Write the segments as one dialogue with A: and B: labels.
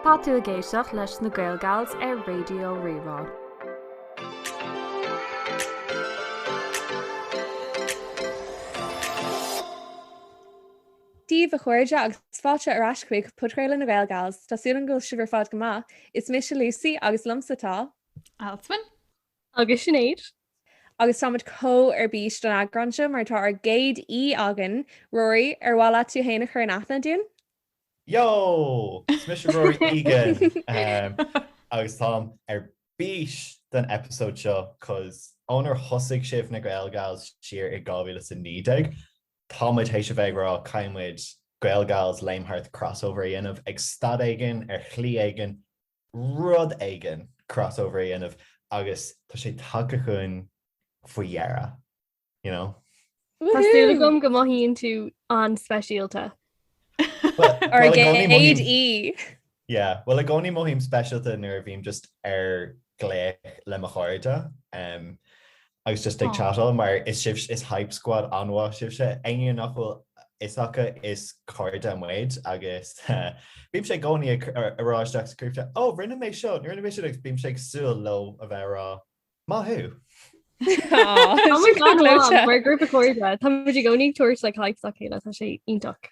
A: Tá tú ag éisteacht leis na GaelGals ar Raidió Rí-Rá.
B: Dia daoibh a chairde agus fáilte ar ais chuig Podchraoladh na GaelGals. Tá súil agam go bhfuil sibh ar fad go maith. Is mise Lucy agus liomsa tá. Alswyn.
C: Agus
D: Sinéad. Agus
B: táimid chomh ar bís don eagrán seo mar tá ár gcéad aoi againn. Rory, ar mhaith leat tú fhéin a chur in aithne dúinn? Yo! Is
E: mise Rory Egan agus táim ar bís don eipeasóid seo coz ónar thosaigh sibh na GaelGals siar i 2019, táimid théis a bheith ag rá caithfidh muid GaelGals Léim Thart crossover a dhéanamh ag stad éigin ar shlí éigin. rud éigin crossover a dhéanamh agus tá sé tagtha chugainn faoi dheireadh, you know? Tá súil
D: agam go mothaíonn tú an-speisialta.
B: Ár gcéad aoi!
E: Yeah, bhuel i gcónaí mothaím speisialta nuair a bhím just ar ghlaoch le mo chairde. Agus just ag chatáil mar is hype squad an-mhaith sibhse. Éinne nach bhfuil fhios acu is cairde muid agus bímse i gcónaí ag rá isteach sa ghrúpa Ó rinne mé seo, rinne mé sin agus bímse ag súil leo a bheith ag rá Maith
D: thú! Oh my God, mar ghrúpa cairde tá muid i gcónaí ag tabhairt hype dá chéile, tá sé iontach.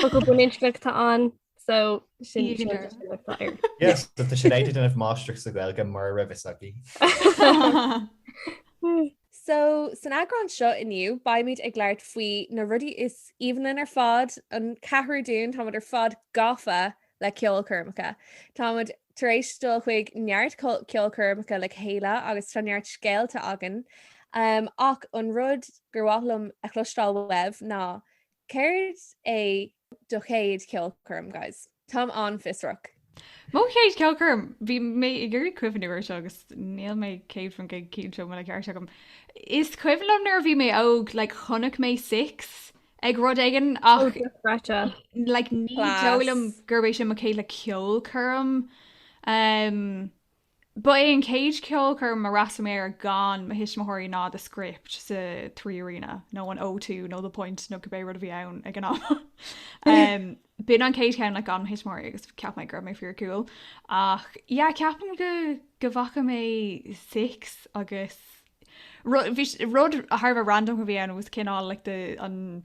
D: Focail bainisteachta ansin.
E: Yes, so tá Sinéad ag déanamh máistreacht sa Ghaeilge mura raibh fhios
B: agaibh. So, san eagrán seo inniu, beimid ag labhairt faoi na rudaí is aoibhinn linn ar fad, an ceathrar dúinn, táimid ar fad gafa le ceolchoirmeacha. Táimid tar éis dul chuig neart co- ceolchoirmeacha le chéile agus tá neart scéalta againn. Um, ach an rud gur mhaith liom a chloisteáil uaibh ná Céard é do chéad cheolchoirm, guys? Táim an-fhiosrach. Mo chéad
C: cheolchoirm? Bhí mé ag iarraidh cuimhniú ar seo agus níl mé céad faoin gcéad cinnte an bhfuil an ceart agam. Is cuimhin liom nuair a bhí mé óg, like, chonaic mé Six ag rud éigin ach like, ní dóigh liom gurb é sin mo chéad, like, ceolchoirm. Um, Ba é an chéad cheolchoirm ar fhreastail mé air gan mo thuismitheoirí ná The Script sa Three Arena nó an O2 nó The Point nó cibé rud a bhí ann ag an am. B'in an chéad cheann gan mo thuismitheoirí agus cheap mé go raibh mé fíor cool. Ach yeah, ceapaim go go bhfaca mé Six agus rud thar a bheith random a bhí ann agus cineál like the an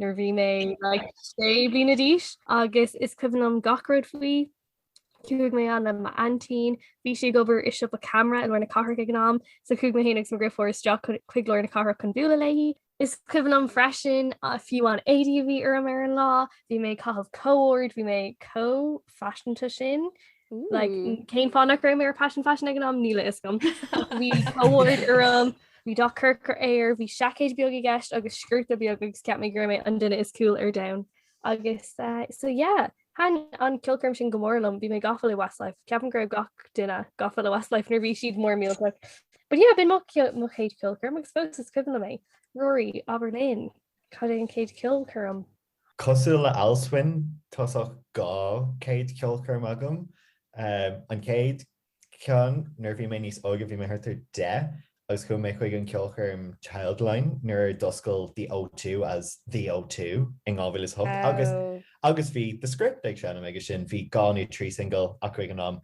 D: nuair bhí mé like sé bliana d'aois agus is cuimhin liom gach rud faoi. Chuaigh mé ann le m'aintín, bhí sí ag obair i siopa camera i lár na cathrach ag an am, so chuaigh mé féin agus mo dheirfiúr isteach chun chuig lár na cathrach chun bualadh léi. Is cuimhin liom freisin fiú na héadaí a bhí orm ar an lá, bhí mé ag caitheamh co-ord, bhí mé chomh faiseanta sin. cén fáth nach raibh mé ar Paisean Faisean ag an am níl a fhios agam. Bhí co-ord orm, bhí dath corcra air, bhí seaicéad beag i gceist agus sciorta beag agus cheap mé gur mé an duine is cool ar domhan. Agus so yeah, thaitin an ceolchoirm sin go mór liom, bhí mé gafa le Westlife, ceapaim go raibh gach duine gafa le Westlife nuair bhí siad mór millteach. But yeah, b'in mo chéad ceolchoirm agus fós is cuimhin liom é. Rory, abair linn, cad é an chéad ceolchoirm Cosúil
E: le Alswyn, tá saghas dhá chéad ceolchoirm agam. An chéad cheann, nuair a bhí mé níos óige, bhí mé thart ar deich, agus chuaigh mé chuig an cheolchoirm Childline nuair a d'oscail The O2 as The O2 in 2008 agus bhí The Script ag seinm aige sin. Bhí dhá nó trí singil acu ag an am.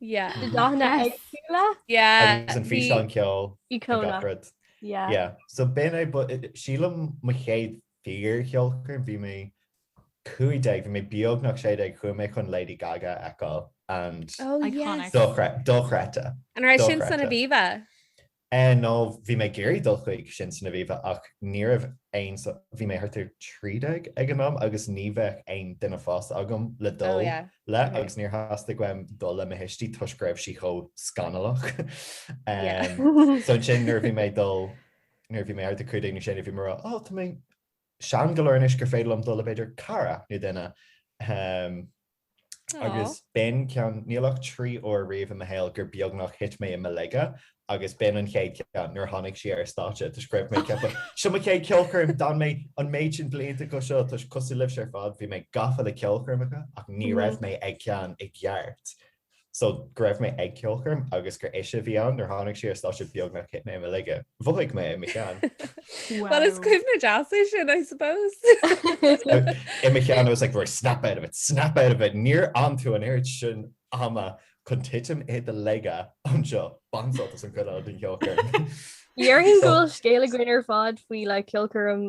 D: Yeah. Na dathanna
E: éagsúla? Yeah. Agus
D: an físeán ceoil.
E: Ícónach. Yeah. Yeah. So b'in é, but sílim mo chéad fíor cheolchoirm, bhí mé 15, bhí mé beagnach 16, chuaigh mé chun Lady Gaga a fheiceáil and. Oh yes.
C: Dochreidte.
E: An raibh sin
B: san Aviva? Eh
E: no, bhí mé ag iarraidh dul chuig sin san Aviva ach ní raibh aon, bhí mé thart ar trí déag ag an am agus ní bheadh aon duine fásta agam le dul le agus níor theastaigh uaim dul le mo thuistí toisc go raibh sí chomh scanallach. Em so ansin nuair a bhí mé ag dul, nuair a bhí mé thart ar cúig déag nó sé déag bhí mé mar, oh tá mé, sean go leor anois gur féidir liom dul le b'fhéidir cara nó duine, agus b'in ceann, níl ach trí uair riamh i mo shaol gur beagnach thit mé i mo laige, agus b'in an chéad cheann, nuair a tháinig sí ar stáitse, toisc go raibh mé ag ceapadh, seo mo chéad ceolchoirm, d'fhan mé an méid sin blianta chuige seo, toisc cosúil libhse ar fad, bhí mé gafa le ceolchoirmeacha, ach ní raibh mé ag ceann i gceart. so go raibh mé ag ceolchoirm agus gur ise a bhí ann nuair tháinig sí ar stáitse beagnach thit mé i mo laige. Mhothaigh mé i mo cheann. Bhuel is
B: cuimhne deas é sin I suppose.
E: I mo cheann I was like Rory snap out of it, snap out of it, níor fhan tú an oiread sin ama chun titim i do laige anseo, bain sult as an gcuid eile den cheolchoirm. Déarfainn go
D: bhfuil scéal againn ar fad faoi like ceolchoirm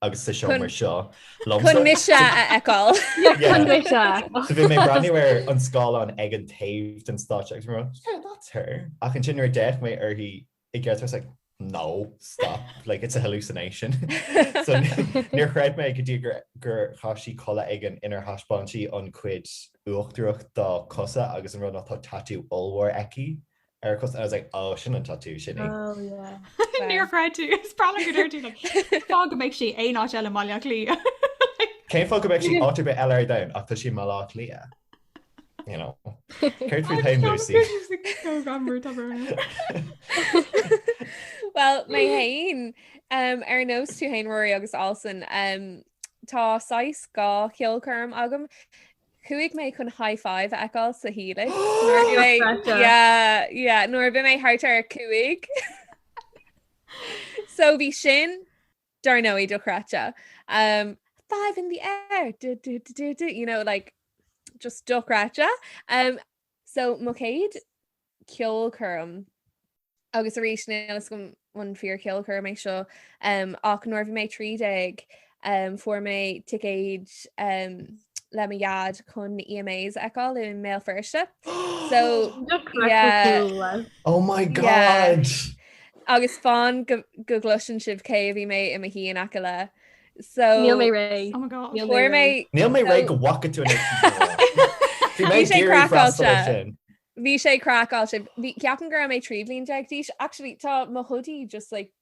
E: agus sa seomra seo. Chun mise
B: a fheiceáil.
E: So bhí mé ag breathnú ar an scáileán ag an taobh den stáitse agus mé mar, yeah, that's her. Ach ansin nuair a d'fhéach mé uirthi i gceart, I was like, no, stop, like, it's a hallucination. So níor chreid mé go dtí gur chaith sí culaith éigin inar thaispeáin sí an chuid uachtarach dá cosa agus an rud ná tá tattoo ollmhór aici Cos I was like oh sin an tatú sin. Oh yeah.
D: Níor chreid
C: tú é. Is breá liom go ndúirt tú like cén fáth go mbeadh sí in aon áit eile i mBaile Átha Cliath. Cén fáth
E: go mbeadh sí áit ar bith eile ar domhan ach tá sí i mBaile Átha Cliath? You know. Céard fút féin
B: Lucy? Well mé féin um, ar nós tú féin Rory agus Alson um, tá saghas dhá cheolchoirm agam Chuaigh mé chun high five a fheiceáil sa Helix nuair bhí mé thart ar cúig. So bhí sin dar ndóigh dochreidte. Um, five in the air do, do, do, do, do, you know like just dochreidte. Um, so mo chéad ceolchoirm agus arís níl fhios agam an fíor-cheolchoirm é seo ach nuair a bhí mé ag 13 fuair mé ticéid le mo dhaid chun EMAs a fheiceáil i mBéal Feirste so yeah
E: oh my god agus
B: fán go gcloiseann sibh cé a bhí mé i mo shuí in aice le so níl mé
D: réidh oh
C: my god níl mé
E: réidh go bhfaca tú in aici
B: bhí mé ag iarraidh freastal ar sin Bhí sé craiceáilte. Bhí, ceapaim go raibh mé trí bhliain déag d'aois. Actually, tá mo hoodie just like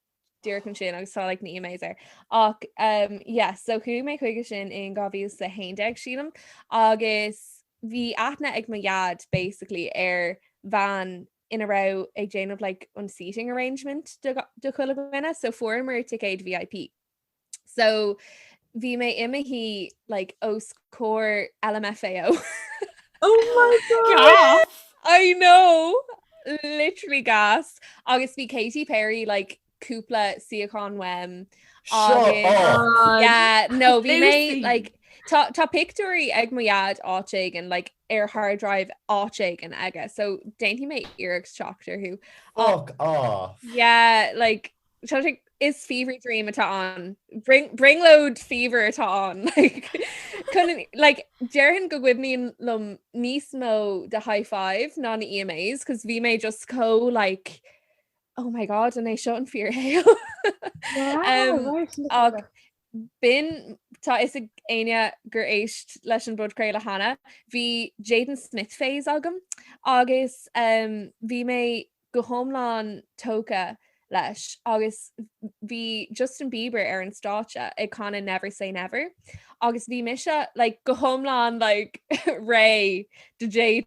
B: díreach ansin agus tá like na EMAs air. Ach umm yes, so chuaigh mé chuige sin in 2011, sílim, agus bhí aithne ag mo dhaid basically ar bhean ina raibh ag déanamh like an seating arrangement do chuile dhuine, so fuaireamar ticéid VIP. So bhí mé i mo shuí like os comhair LMFAO.
D: Oh my god! I know!
B: Literally gas! Agus bhí Katy Perry like cúpla suíochán uaim. Yeah, no, bhí mé like Tá, tá pictiúirí ag mo dhaid áit éigean, like, ar hard drive áit éigean aige, so déanfaidh mé iarracht teacht orthu. Fuck off! Yeah, like, Is fever dream atá ann. Bring load fever atá ann. Déarfainn go gcuimhníonn liom níos mó de High Five ná na EMAs cos bhí mé just chomh like oh my god an é seo an fíorshaol? B'in, tá fhios ag éinne gur éist leis an bpodchraoladh cheana, bhí Jaden Smith phase agam agus bhí mé go hiomlán tógtha leis agus bhí Justin Bieber ar an stáitse ag canadh Never Say Never agus bhí mise like, go hiomlán like, réidh do Jaden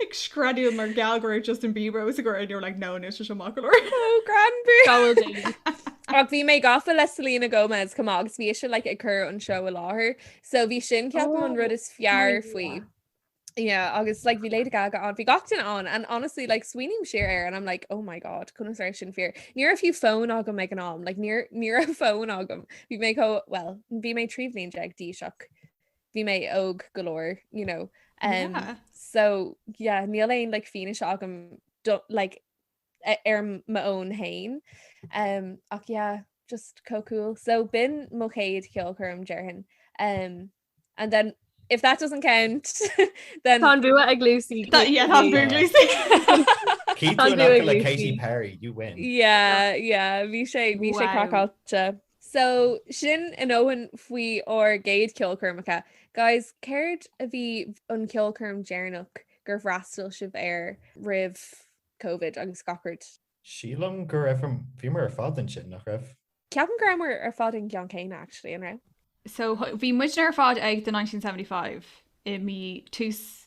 C: Ag screadaíl mar gheall go raibh Justin Bieber os a gcomhair and they were like no níl sé seo maith go leor. Oh
B: Granby! Go bhfuil
D: daoine. Ach bhí mé
B: gafa le Selena Gomez chomh maith agus bhí sise like ag cur an seó i láthair so bhí sin ceapaim an rud is fearr faoi. Oh my God. Yeah agus like bhí Lady Gaga ann, bhí gach duine ann and honestly like smaoiním siar air and I'm like oh my God conas a raibh sin fíor. Ní raibh fiú fón agam ag an am like ní raibh fón agam. Bhí mé chomh, well bhí mé trí bhliain déag d'aois ach bhí mé óg go leor you know um yeah.
C: so
B: yeah níl aon like fianaise agam like ar my own hain um ach yeah just co cool so bin mo chéad ceol chum dearhan um and then if that doesn't count then Tá bua ag
D: Lucy Katy Perry you
C: win
E: yeah yeah
B: bhí sé bhí sé crackáte So, sin a ndóthain faoi ár gcéad ceolchoirmeacha. Guys, céard a bhí an ceolchoirm deireanach gur fhreastail sibh air roimh Covid agus gach rud? Sílim
E: go raibh, bhíomar ar fad ansin, nach raibh? Ceapaim go rabhamar
B: ar fad ag an gceann céanna actually, an raibh? So, bhí
C: muidne ar fad ag The 1975 i mí, tús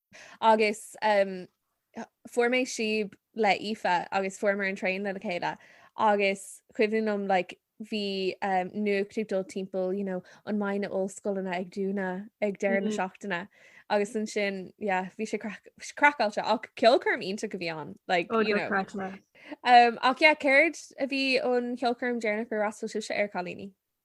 B: Agus fuair mé síob le Aoife agus fuaireamar an traein lena chéile agus cuimhin liom like bhí nuacht ag dul timpeall you know an mbeidh na hollscoileanna ag dúnadh ag deireadh na seachtaine agus ansin yeah bhí sé craiceáilte ach ceolchoirm iontach a bhí ann like you know ach yeah céard a bhí an cheolchoirm deireanach ar fhreastail sibhse air cailíní?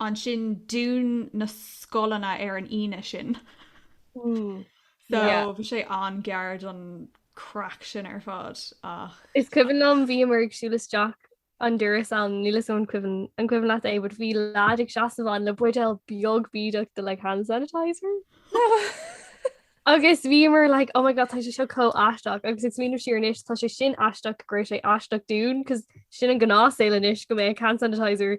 C: Ansin dún na scoileanna ar an Aoine sin. So bhí sé an-ghar don craic sin ar fad ach. Is cuimhin
D: liom bhíomar ag siúl isteach an doras ann, níl fhios a'm an cuimhin an cuimhin leat é but bhí leaid ag seasamh ann le buidéal beag bídeach de like hand sanitizer agus bhíomar like oh my god tá sé seo chomh aisteach agus ag smaoineamh siar anois tá sé sin aisteach go raibh sé aisteach dúinn 'cause sin an gnáthshaol anois go mbeadh hand sanitizer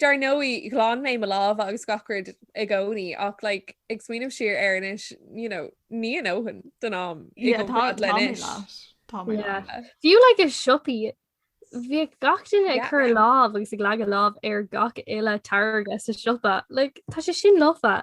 B: Dar ndóigh, ghlan mé mo lámha agus gach rud i gcónaí ach like ag smaoineamh siar air anois you know ní a ndóthain den am i gcomparáid le anois. Yeah.
D: Fiú like i siopaí bhí gach duine ag cur lámh agus ag leagan lámh ar gach uile táirge sa siopa, like tá sé sin lofa.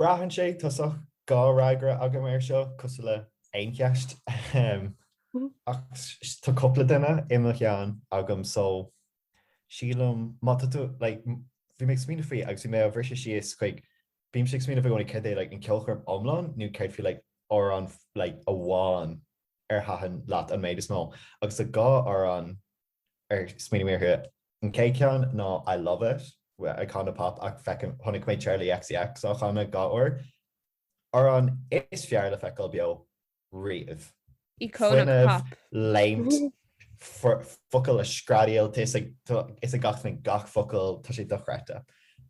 B: Braitheann
E: sé tosach dhá fhreagra agam air seo, cosúil le aon cheist, ahem, ach tá cúpla duine i mo cheann agam so sílim má tá tú, like, bhí mé ag smaoineamh faoi agus bhí mé á bhriseadh síos chuig, bímse ag smaoineamh i gcónaí cad é like an ceolchoirm iomlán nó céard faoi like amhrán like amháin ar thaitin leat an méid is mó agus tá dhá amhrán ar smaoinigh mé orthu. An chéad cheann ná I Love It, Icona Pop ach feicim, chonaic mé Charli XCX á chanadh dhá uair. Amhrán is fearr le feiceáil beo
B: riamh. Fuinneamh,
E: léimt, focail á screadaíl, tá fhios ag gach duine, gach focal, tá sé dochreidte.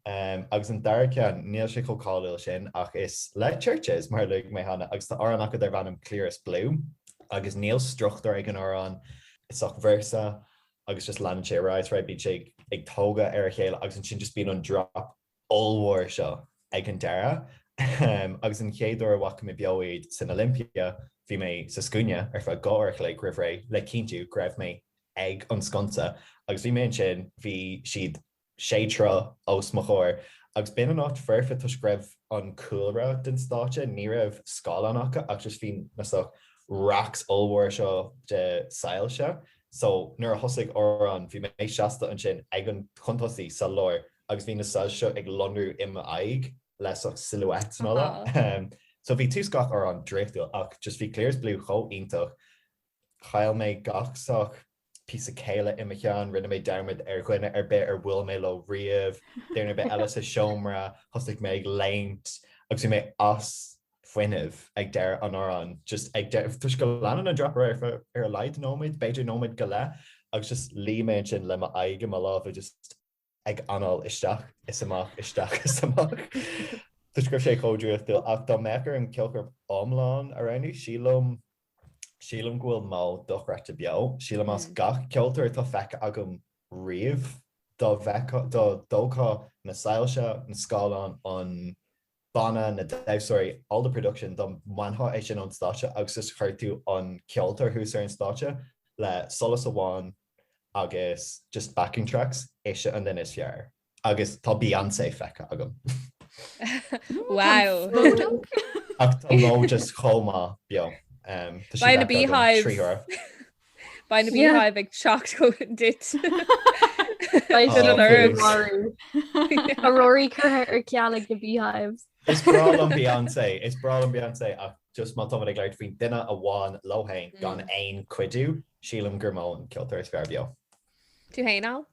E: Agus an dara ceann, níl sé chomh cáiliúil sin, ach is le Chvrches, mar a luaigh mé cheana, agus tá amhrán acu darb ainm Clearest Blue, agus níl struchtúr ag an amhrán, is sách véarsa agus just leanann sé ar aghaidh is ar aghaidh, bíonn sé ag tógáil ar a chéile agus ansin just bíonn an drop ollmhór seo ag an deireadh. Agus an chéad uair a bhfaca mé beo iad san Olympia, bhí mé sa scuaine ar feadh dhá uair a chloig roimh ré le cinntiú go raibh mé ag an sconsa, agus bhí mé ansin, bhí siad sé troigh os mo chomhair agus b'in an áit foirfe toisc go raibh an cúlra den stáitse, ní raibh scáileán acu ach just bhí na sách racks ollmhóra seo de soilse so nuair a thosaigh amhrán bhí mé seasta ansin ag an chun tosaigh sa lár agus bhí na soilse seo ag lonrú i m'aghaidh le sách silhouettes nó so bhí tús gach amhrán draíochtúil ach just bhí Clearest Blue chomh iontach Chaill mé gach sách píosa céille i mo cheann. Rinne mé dearmad ar dhuine ar bith ar bhuail mé leo riamh. Duine ar bith eile sa seomra. Thosaigh mé ag léimt agus bhí mé as fuinneamh ag deireadh an amhráin. Just ag deireadh, toisc go leanann an drop ar feadh ar a laghad nóiméad, b'fhéidir nóiméad go leith, agus just luigh mé ansin le m'aghaidh i mo lámha just, ag anáil isteach is amach, isteach is amach. Toisc go raibh sé chomh draíochtúil, ach dá mbeadh orm ceolchoirm iomlán a roghnú, sílim, sílim go bhfuil MØ dochreidte beo. Sílim as gach ceoltóir atá feicthe agam riamh, dá bhfeicfeá, dá dtógfá na soilse, na scáileáin, an. Banna, na damhsóirí, all the production dá mbainfeá é sin ón stáitse agus is chuir tú an ceoltóir thuas ar an stáitse le solas amháin agus just backing tracks, ise an duine is fearr. Agus tá Beyoncé feicthe agam.
B: Wow! Ach tá
E: MØ just chomh maith beo. Tá sí
B: feicthe agam trí huaire. Beidh na Beehive ag teacht go
D: duit. Beidh an oiread marú. Tá Rory curtha ar ceal ag na Beehives. Is breá
E: liom Beyoncé, is breá liom Beyoncé ach just má tá muid ag labhairt faoin duine amháin leo féin gan aon chuidiú, sílim gur MØ an ceoltóir is fearr beo. Tú féin, Al?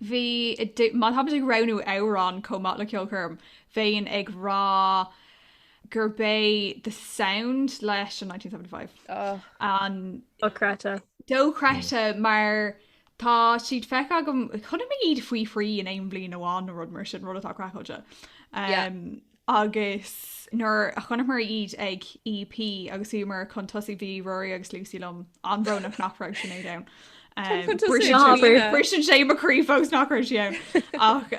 B: bhí,
C: má táimid ag roghnú amhrán chomh maith le ceolchoirm, bheinn ag rá gurb é The Sound leis an 1975 an. dochreidte. dochreidte mar tá siad feicthe agam, chonaic mé iad faoi thrí in aon bhliain amháin nó rud mar sin, rud atá craiceáilte. Yeah. Um, agus nuair a chonaiceamar iad ag EP agus bhíomar chun tosaigh bhí Rory agus Lucy liom an-bhrónach nach raibh Sinéad ann. Briseann sé mo chroí fós nach raibh sí ann ach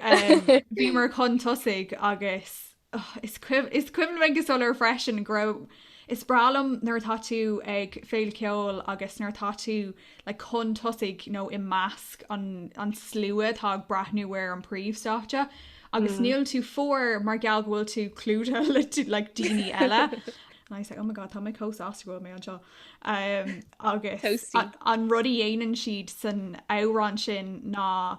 C: bhíomar chun tosaigh agus Oh, is cuimhin liom go soiléir freisin go raibh, is breá liom nuair atá tú ag féile cheoil agus nuair atá tú ag le chun tosaigh nó i measc an slua atá ag breathnú ar an príomhstáitse, agus níl tú fuar mar gheall go bhfuil tú clúdaithe le daoine eile. And I was like, oh my God, tá mé chomh sásta go bhfuil mé anseo. Agus an rud a dhéanann siad san amhrán sin ná.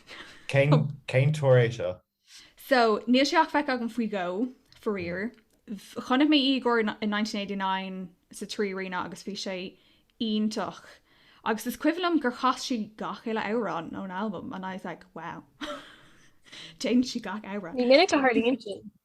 E: Cén tuar é seo? So,
C: níl sé ach feic agam faoi dhó, faraor. Chonaic mé í go deo in 1989 sa Trí Arena agus bhí sé iontach. Agus is cuimhin liom gur chas sí gach uile amhrán ón albam and I was like, wow. Déanann sí gach amhrán. Ní minic a tharlaíonn sin.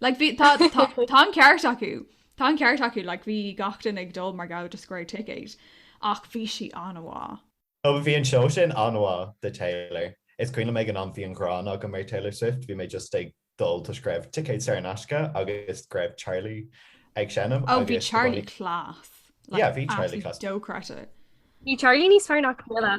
C: Like bhí tá tá an ceart acu tá an ceart acu like bhí gach duine ag dul mar go raibh na saorthicéid ach bhí sí an-mhaith. Ó bhí an seó
E: sin an-mhaith do Taylor. Is cuimhin liom ag an am bhí an ghráin agam ar Taylor Swift bhí mé just ag dul toisc go raibh ticéid saor in aisce agus go raibh Charlie ag seinm agus. Ó bhí Charlie
C: class.
E: Yeah bhí
C: Charlie
D: class.
E: Dáiríre. Bhí Charlie
C: níos
D: fearr ná
E: Camilla.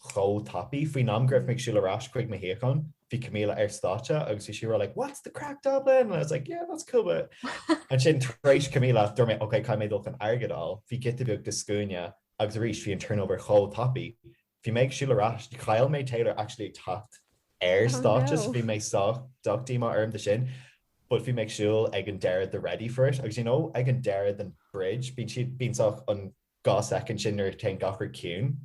E: chomh tapaidh. Faoin am go raibh mé ag siúl ar ais chuig mo shuíochán, bhí Camilla ar stáitse agus she was like what's the crack Dublin? And I was like yeah that's cool but. Ansin tar éis Camilla dúirt mé ok caithfidh mé dul chun airgead a fháil, bhí giota beag de scuaine agus arís bhí an turnover chomh tapaidh. Bhí mé ag siúl ar ais, chaill mé Taylor actually ag teacht ar stáitse so bhí mé sách díomá orm de sin but bhí mé ag siúl ag an deireadh de ready for it agus you know ag an deireadh den bridge bíonn siad bíonn sách an dhá soicind sin nuair a téann gach rud ciúin.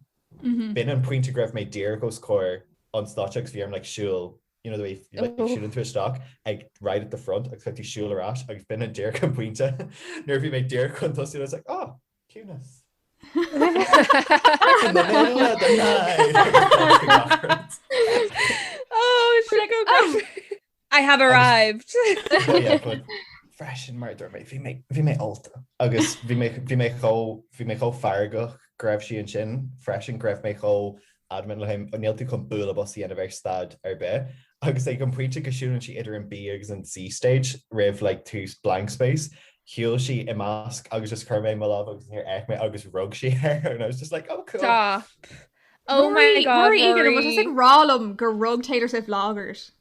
E: B'in an pointe go raibh mé díreach os comhair an stáitse agus bhí orm like siúl you know the way like siúlann tú isteach ag right at the front agus caithfidh tú siúl ar ais agus b'in an díreach an pointe nuair a bhí mé díreach chun tosaigh I was like oh
B: ciúnas Oh, I have
E: arrived! Freisin, mar dúirt mé, bhí mé ólta agus bhí mé chomh feargach go raibh sí ansin freisin, go raibh mé chomh adamant like, níl tú chun bualadh bos a dhéanamh ar stad ar bith. Agus ag an bpointe go siúlann sí idir an B agus an C stage roimh like tús blank space, shiúil sí i measc agus just chuir mé amach mo lámh agus níor fhéach mé agus rug sí air and I was just like oh cool. Stop!
B: Oh my God, Ruairí! Ruairí! Tá tú ag rá
C: liom gur rug Taylor Swift lámh ort.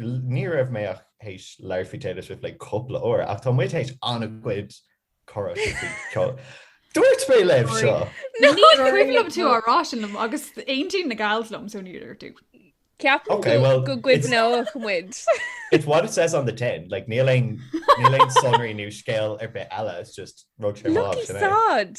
E: Ní raibh mé ach théis labhairt faoi Taylor Swift le cúpla uair, ach tá muid théis an-chuid comhrá faoi ceol. Dúirt mé libh seo! Ní cuimhin
C: liom tú á rá sin liom, agus aontaíonn na gals liom, so níor dúirt tú.
B: Ceapaim go gcuimhneodh muid. It's what it
E: says on the tin, like níl aon sonraí nó scéal ar bith eile, it's just rug sí orm, sin é. Lucky sod!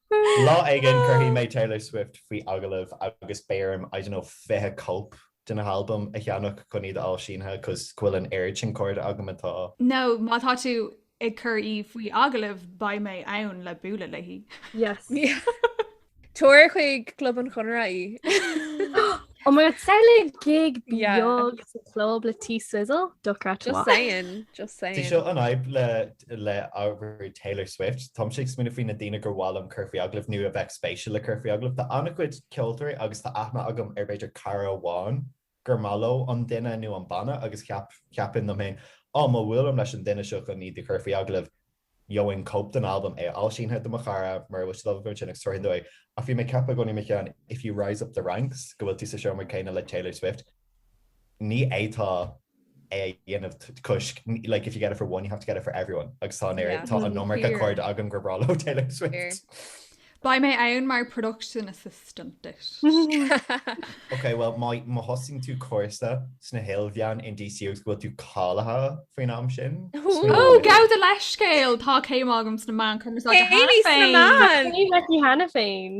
E: Lá éigin cuirfidh mé Taylor Swift faoi agallamh agus beidh orm, I don't know, fiche cóip de na halbaim a cheannach chun iad a fháil sínithe cos go bhfuil an oiread sin cairde agam atá. Nó má tá tú
C: ag cur í faoi agallamh beidh mé ann le bualadh léi.
B: Yes. Tabhair chuig Club an Chonartha
D: í. Oh my god, saor le gig beag sa chlub le T-Swizzle, dochreidte Just saying,
B: just saying. Seo an fhadhb
E: le le ábhar Taylor Swift. Táimse ag smaoineamh faoi na daoine gur mhaith liom cur faoi agallamh nó a bheadh spéisiúil le cur faoi agallamh. Tá an-chuid ceoltóirí agus tá aithne agam ar b'fhéidir cara amháin gur maith leo an duine nó an banna agus cheap, cheapfainn liom féin, á, má bhuailim leis an duine seo chun iad a chur faoi agallamh, gheobhainn cóip den albam, é a fháil sínithe do mo chara, mura bhfuil siad ábalta ansin, agus tabharfainn dó é. Ach bhí mé ag ceapadh i gcónaí i mo cheann, if you rise up the ranks, go bhfuil tú sa seomra céanna le Taylor Swift. Ní fhéadfá é a dhéanamh toisc, like, if you get it for one, you have to get it for everyone, agus tá an aer, tá an iomarca cairde agam gur bhreá leo Taylor Swift. Beidh mé
C: ann mar production assistant it.
E: Ok, bhuel, má thosaíonn tú cúrsa sna hIlmheáin in DCU agus go bhfuil tú cáilithe faoin am sin, smaoinigh Oh, gabh do
C: leithscéal! Tá céim agam sna meáin chumarsáide agam cheana féin. Céim sna meáin!
D: Céim aici cheana féin.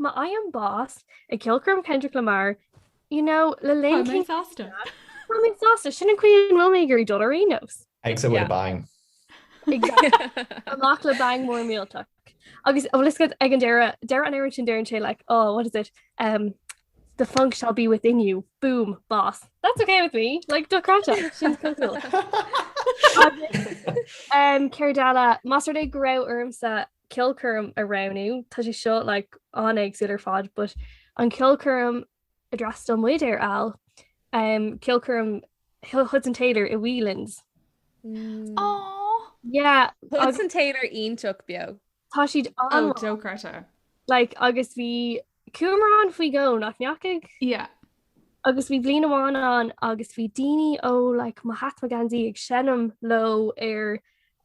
D: Má fhaighim bás ag ceolchoirm Kendrick Lamar, you know, le linn Tá mé
C: sásta. Tá mé
D: sásta, sin an chaoi a bhfuil mé ag iarraidh dul ar aon nós. Exit with a bang.
E: Exactly.
D: Amach le bang mór millteach. Agus bhfuil fhios agat ag an deireadh, deireadh an amhráin sin deireann sé like, oh, what is it, um, the funk shall be within you, boom, bás. That's okay with me, like, dochreidte, sin is cosúil. Agus, um, céard eile, más rud é go raibh ormsa, ceolchoirm a roghnú, tá sé seo like an-éagsúil ar fad but an ceolchoirm a d'fhreastail muid ar fad, um, ceolchoirm Hudson Taylor i Whelan's.
C: Mm. Aww!
D: Yeah, Hudson Taylor
B: iontach beo. Tá siad oh, an...
D: Oh, dochreidte.
C: Like, agus
D: bhí Chuaigh muid ann faoi dhó, nach ndeachaigh?
C: Yeah. Agus
D: bhí bliain amháin ann agus bhí daoine ó like Mahatma Gandhi ag seinm leo ar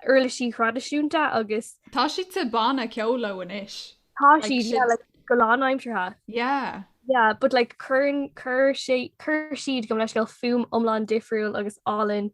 D: uirlisí thraidisiúnta agus. Tá siad sa
C: banna ceoil leo anois. Tá siad, yeah,
D: like go lánaimseartha. Yeah.
C: Yeah, but like
D: cuireann, cuir sé, cuir siad gabh mo leithscéal fuaim iomlán difriúil agus álainn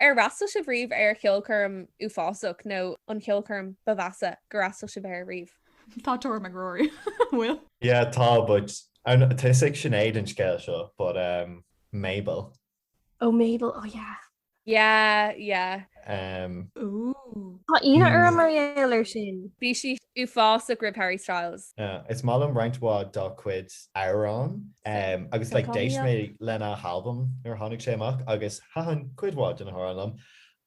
D: Ar
B: fhreastail sibh riamh ar cheolchoirm uafásach nó an ceolchoirm ba mheasa gur fhreastail sibh air riamh? Tá tuairim ag Rory.
C: An bhfuil? Yeah tá but
E: tá fhios ag Sinéad an scéal seo but em Mabel.
D: Oh Mabel oh yeah.
B: Yeah yeah.
C: Em. Ooh. Tá ionadh orm
D: mar gheall ar sin. Bhí sí
B: uafásach roimh Harry Styles. Yeah is maith liom roinnt
E: mhaith dá chuid. amhrán agus like d'éist mé lena halbam nuair a tháinig sé amach agus thaitin cuid mhaith de na hamhráin liom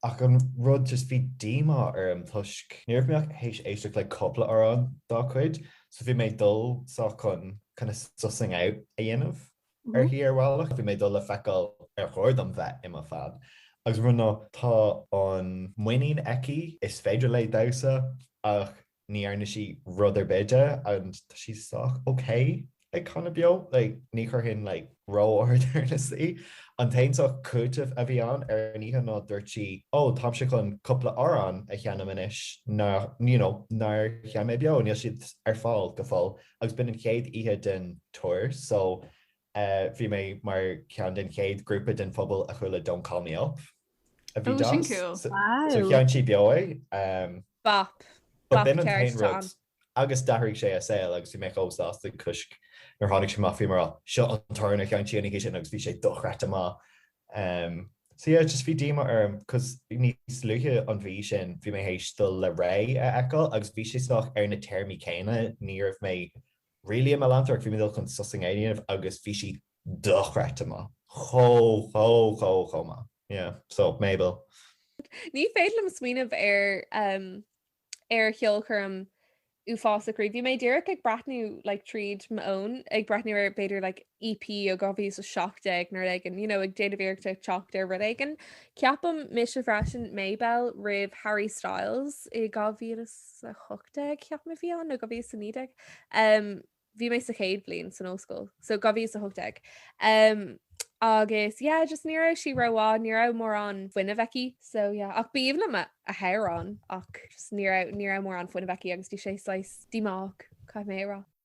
E: ach an rud just bhí díomá orm toisc níorbh mé ach théis éisteacht le cúpla amhrán dá cuid so bhí mé ag dul sách chun kind of sussing out a dhéanamh uirthi ar bhealach bhí mé ag dul le feiceáil ar chóir dom bheith i mo fan agus an rud ná tá an muinín aici is féidir léi damhsa ach ní dhearna sí rud ar bith de and tá sí sách okay ag canadh beo like ní chuirfinn í like ró-ard ar an scale. An t-aon sórt cúitimh a bhí ann ar an oíche ná dúirt sí oh táimse chun cúpla amhrán a sheinm anois nár you know nár sheinn mé beo níl siad ar fáil go fóill agus b'in an chéad oíche den tour so Bhí mé mar cheann den chéad grúpa den phobal a chuala Don't Call Me Up a bhí cool.
C: So chan
E: sí beo é. Bop.
B: But b'in an
E: t-aon rud. Agus d'athraigh sé a saol agus bhí mé chomh sásta 'cause nuair a tháinig sé amach bhí mé mar 'seo an t-amhrán a chan sí an oíche sin' agus bhí sé dochreidte maith. So yeah, just bhí díomá orm cos níos luaithe an mhí sin bhí mé théis dul le Raye a fheiceáil agus bhí sé saghas ar na téarmaí céanna ní raibh mé Really i mo leantóir ach bhí mé ag dul chun sussing a dhéanamh agus bhí sí dochreidte maith. Chomh, chomh, chomh, chomh maith. Yeah. So, Mabel. Ní
B: féidir liom smaoineamh ar em ar cheolchoirm uafásach riamh. Bhí mé díreach ag breathnú like tríd m'fhón ag breathnú ar b'fhéidir like EP ó 2017 nó rud éigin you know ag déanamh iarracht a theacht ar rud éigin. Ceapaim mise freisin Mabel roimh Harry Styles i 2000 is a 18 ceapaim a bhí ann, nó 2019, bhí mé sa chéad bhliain san ollscoil, so 2018, agus yeah just ní raibh sí ró-mhaith, ní raibh mórán fuinnimh aici, so yeah, ach b'aoibhinn liom a hamhráin ach just ní raibh, ní raibh mórán fuinnimh aici agus bhí sé saghas díomách, caithfidh mé a rá.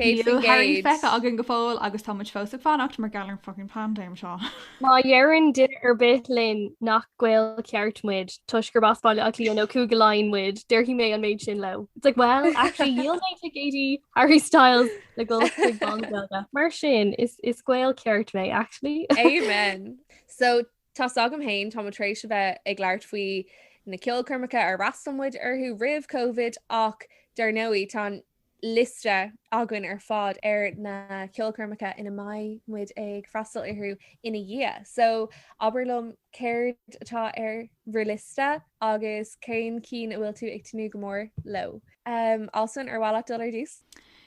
C: Níl Harry feicthe againn go fóill agus tá muid fós ag fanacht mar gheall ar an fucking pandéim seo. Má
D: dheireann duine ar bith linn nach Gael ceart muid toisc gurb as Baile Átha Cliath nó Cúige Laighean muid, déarfaidh mé an méid sin leo. It's like, well, actually, dhíol mé ticéid Harry Styles le dhul go Béal an Mhuirthead. Mar
B: sin,
D: is Gael ceart mé, actually. Amen! So,
B: tá's agam féin, tá muid tar éis a bheith ag labhairt faoi na ceolchoirmeacha ar fhreastail muid orthu roimh Covid ach, dar ndóigh, tá an. liosta againn ar fad ar na ceolchoirmeacha ina mbeidh muid ag freastal orthu ina dhiaidh, so abair liom céard atá ar bhur liosta agus cén cinn a bhfuil tú ag tnúth go mór leo. Allsún, ar mhaith leat dul ar dtús?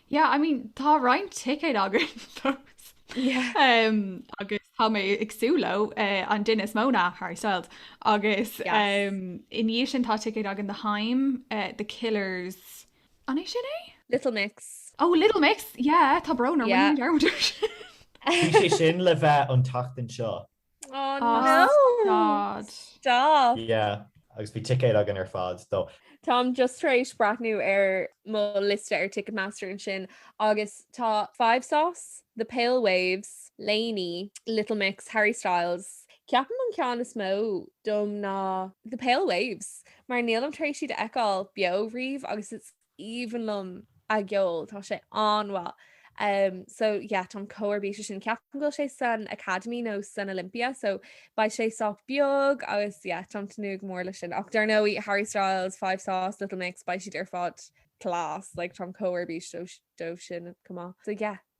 B: Yeah, I
C: mean, tá roinnt ticéad againn agus tá mé ag súil leo, an duine is mó ná Harry Styles agus i ndiaidh sin tá ticéid againn do Haim, The Killers, An é sin é? Little
B: Mix. Oh Little
C: Mix, yeah, tá brón orm, rinne mé dearmad air
E: sin. Bhí sé sin le bheith an tseachtain seo. Oh no!
B: Stad. Stop! Yeah, agus
E: bhí ticéad againn ar fad dó. Táim just tar
B: éis breathnú ar mo liosta ar Ticketmaster ansin agus tá 5SOS, The Pale Waves, LANY, Little Mix, Harry Styles. Ceapaim an ceann is mó dom ná The Pale Waves. Mar nílim tar éis iad a fheiceáil beo riamh agus is aoibhinn liom a gceol, tá sé an-mhaith. Umm so yeah táim chomh ar bís leis sin. Ceapaim go bhfuil sé san Academy nó san Olympia so beidh sé sách beag agus yeah táim ag tnúth go mór leis sin. Ach dar ndóigh Harry Styles, 5SOS, Little Mix beidh siad ar fad class, like táim chomh ar bís dóibh sin chomh maith. So yeah.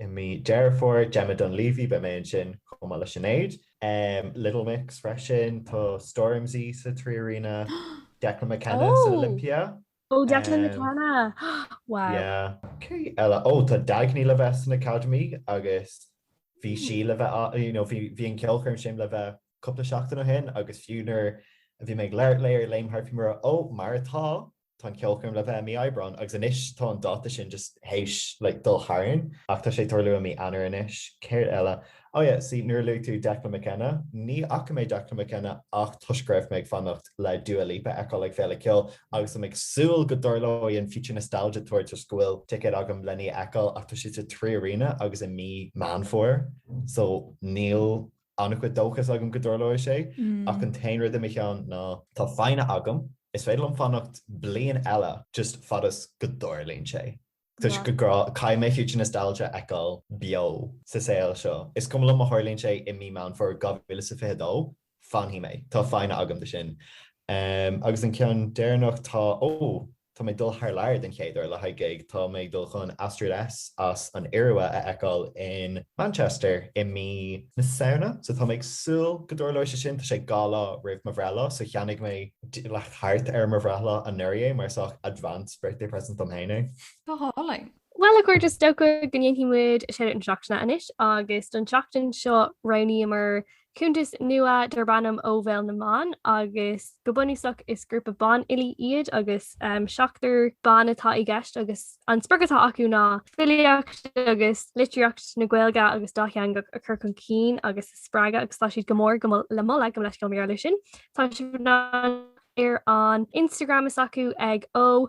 E: i mí Dheireadh Fómhair, Gemma Dunleavy, beidh mé ansin chomh maith le Sinéad. Little Mix freisin, tá Stormzy sa Trí Arena, Declan McKenna san Olympia. Ó, Declan
D: McKenna! Wow. Yeah.
E: Cé eile? Ó, tá Dagny le bheith san Academy agus bhí sí le bheith ann, you know, bhí an cheolchoirm sin le bheith cúpla seachtain ó shin agus fiú nuair a bhí mé ag labhairt léi ar Léim Thart bhí mé mar, ó, mar atá, tá an cheolchoirm le bheith i mí Aibreán agus anois tá an dáta sin just théis dul tharainn ach tá sé ag tarlú i mí Eanáir anois. Céard eile? Oh yeah, see nuair a luaigh tú Declan McKenna, ní fhaca mé Declan McKenna ach toisc go raibh mé ag fanacht le Dua Lipa a fheiceáil ag Féile Ceoil agus tá mé ag súil go dtarlóidh an Future Nostalgia Tour toisc go bhfuil ticéad agam lena í a fheiceáil ach tá sé sa Trí Arena agus i mí Meán Fómhair so níl an-chuid dóchas agam go dtarlóidh sé, ach an t-aon rud i mo cheann ná. Tá foighne agam. Is féidir liom fanacht bliain eile, just fad is go dtarlaíonn sé. Toisc go gcaithfidh mé Future Nostalgia a fheiceáil beo sa saol seo. Is cuma liom má tharlaíonn sé i mí Meán Fómhair 2022, fanfaidh mé. Tá foighne agam do sin. Agus an ceann deireanach, tá, oh. Tá mé ag dul thar lear den chéad uair le haghaidh gig. Tá mé ag dul chun Astrid S as an Iorua a fheiceáil in Manchester i mí na Samhna so tá mé ag súil go dtarlóidh sé sin. Tá sé dhá lá roimh mo bhreithlá so cheannaigh mé thart ar mo bhreithlá anuraidh é mar saghas advanced birthday present dom féin é. Go
C: hálainn. Bhuel a chairde, is
D: dócha go ndéanfaidh muid shout-out na seachtaine anois agus don tseachtain seo roghnaíomar Cuntas nua darb ainm Ó Bhéal na mBan agus go bunúsach is grúpa banfhilí iad agus seachtar ban atá i gceist agus an sprioc atá acu ná filíocht agus litríocht na Gaeilge agus dátheangach a chur chun cinn agus a spreagadh agus tá siad go mór le moladh go leith as dul i mbun oibre leis sin. Tá siad ar an Instagram is acu ag Ó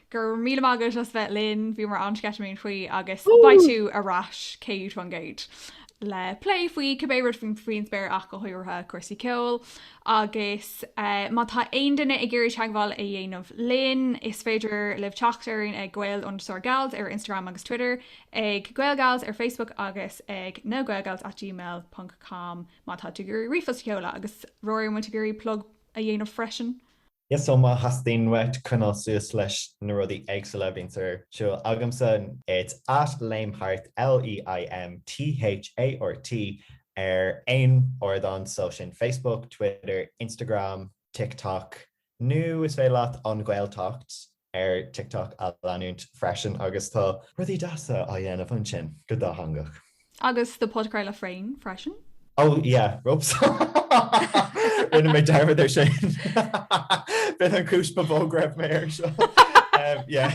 C: Go raibh míle maith agat as bheith linn, bhí mé an-sceitimíneach faoi agus beidh tú ar ais céad fan gcéad le plé faoi cibé rud faoin spéir ach go háirithe cúrsaí ceoil agus má tá aon duine ag iarraidh teagmháil a dhéanamh linn is féidir libh teacht orainn ag gael_gals ar Instagram agus Twitter, ag gaelgals ar Facebook agus ag nagaelgals@gmail.com má tá tú ag iarraidh ríomhphost a sheoladh agus Ruairí b'fhéidir ag iarraidh plug a dhéanamh freisin. Yes so
E: má theastaíonn uait coinneáil suas leis na rudaí éagsúla a bhíonns ar siúl agamsa, It's at Léim Thart, L-E-I-M-T-H-A-R-T, ar aon ardán so sin Facebook, Twitter, Instagram, TikTok, nó is féidir leat An Ghaeltacht, ar TikTok a leanúint freisin agus tá rudaí deasa á dhéanamh ansin, go dátheangach.
C: Agus do
E: podchraoladh
C: féin freisin? Oh
E: yeah,
C: whoops.
E: Rinne mé dearmad ar sin. B'in an cúis ba mhó go raibh mé ar seo. Yeah.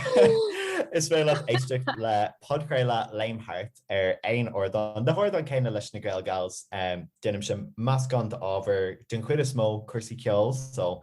E: Is féidir leat éisteacht le podchraoladh Léim Thart ar aon ardán. Na hardáin céanna leis na Gael Gals, déanaimse meascán d'ábhar den chuid is mó, cúrsaí ceoil, so,